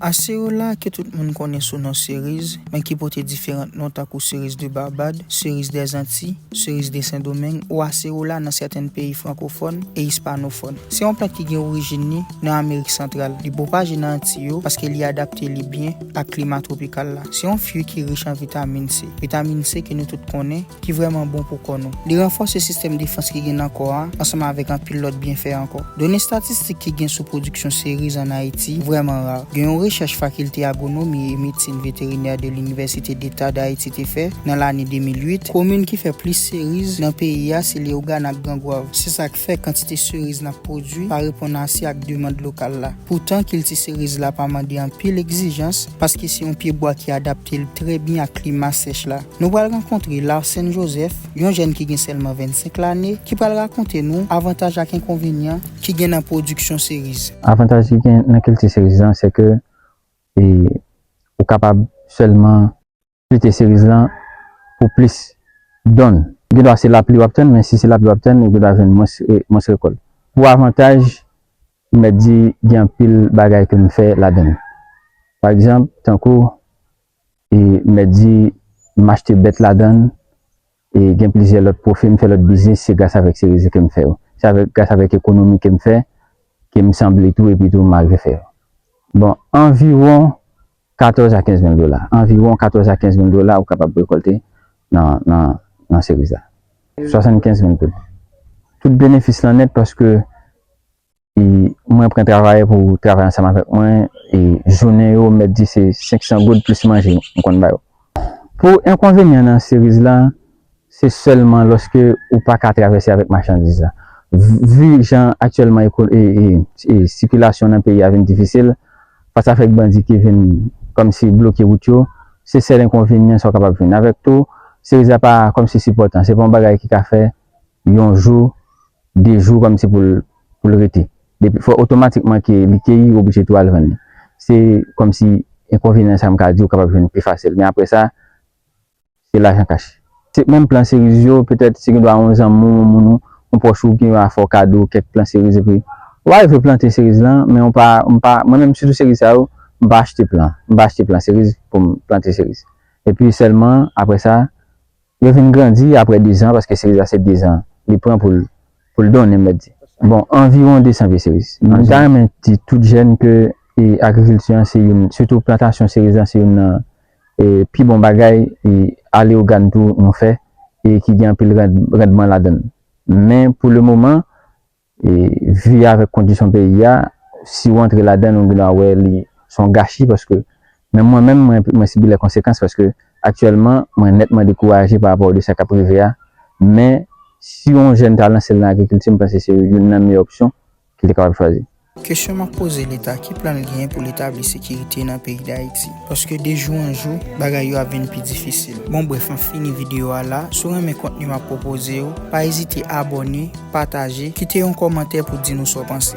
Acerola, ke tout moun konnen sou non Seriz, men ki pote diferant non tankou Cerise de Barbade, Cerise des Antilles, Cerise de Sen Domeng ou Acerola nan sèten peyi frankofòn e ispanofòn. Se yon plant ki gen orijin ni nan Amerik Santral. Li pwopaje nan Antiy yo paske li adapte li byen ak klima twopikal la. Se yon fui ki rich an vitamin C. Vitamin C ke nou tout konnen. ki vrèman bon pou kò nou. Li ranfòse sistèm defans ki gen nan kò a ansanm avèk anpil lòt byenfè ankò. Done statistik ki gen sou pwodiksyon seriz ann Ayiti vrèman ra. Gen yon rechèch Fakilte Agwonomi e Medsin Veterinè de Linivèsite Deta Dayiti te fè nan lane 2008, komin ki fè plis seriz nan peyi a se Leyogàn ak Gran Gwav. Se sa k fè kantite seriz n ap pwodui pa reponn ase ak demand lokal la. Poutan, kilti seriz la pa mande anpil egzijans paske se yon pyebwa ki adapte l trè byen ak klima sèch la. Nou pral rankontre Larsen Joseph, yon jèn ki gen sèlman 25 lane, ki pral rakonte nou avantaj ak enkonvenyan ki gen nan pwodiksyon seriz. Avantaj ki gen nan kilti seriz lan se ke ou kapab sèlman kilti seriz lan pou plis donn. Gen dwa se lapli w ap tann, men si se lapli w ap tann, ou gen dwa jwenn mwens rekòl. Pou avantaj, m mèt di gen anpil bagay ke m fè ladan l. Pa egzanp, tankou e mèt di m achte bèt ladann e gen plizyè lòt pwofe m fè lòt biznis se gras avèk cerisier ke m fè yo se avèk gras avèk ekonomi ke m fè ke m sanble tou epi tou m arive fè yo bon anviwon 14 a 15 mil dola anviwon 14 a 15 mil dola ou kapab rekòlte nan nan nan cerise la 75 mil goud tout benefis lan nèt paske. e mwen pran travayè pou travay ansanm avèk mwen e jounen yo mèt di se 500 goud plis manje m konn ba yo. Pou enkonvenyan nan series la se sèlman lòske ou pa ka travèse avèk machandiz la. Vu jan aktyèlman e sikilasyon nan peyi a vin difisil fas avèk bandi ki vin kòmsi bloke wout yo se sèl enkonvenyan sa kapab vin avèk tou series la pa kòmsi sipòtan se pa yon bagay ki ka fè yon jou, de jou kòm si pou pou l rete. Depi fò otomatikman ke li keyi oblije tou al vann li. Se kòm si enkonvenyan sa m ka di ou kapab jwenn pi fasil. Men apre sa, se lajan kach. Se menm plan seriz yo, petèt se gen dwa yon zanmi w, yon moun ou, yon pwòch ou ki va fè w kado kèk plan seriz epi ou va rive plante seriz lan men ou pa, m pa, mwen menm sitou seriz sa yo, m pa achte plan. M pa achte plan seriz pou m plante seriz. Epi sèlman apre sa. Yo vin grandi apre dezan, paske seriz la se dezan li pran pou l pou l donnen, m mèt di. Bon, anviwon desan pye seriz. M ta renmen di tout jèn ke agrikilti an se youn, sitou plantasyon seriz lan se youn nan pi bon bagay aleogàn tou nou fè e ki gen anpil randman ladan l. Men pou lemoman, E vi a avèk kondisyon peyi a, si ou antre ladan l ou gendwa wè li s on gachi paske menm mwen menm mwen sibi lè konsekans paske aktyèlman mwen nètman dekouraje pa rapò de sa k ap rive a men si on jèn ta lanse l nan agrikilti m panse se youn nan meyè opsyon ki te kapab chwazi. Kesyon map poze leta ki plan l genyen pou l etabli sekirite nan peyi dayiti paske de jou an jou bagay yo ap vin pi difisil bon bref map fini video a la si w renmen kontni map pwopoze yo pa ezite abòne pataje kite yon kòmantè pou di nou sa w panse.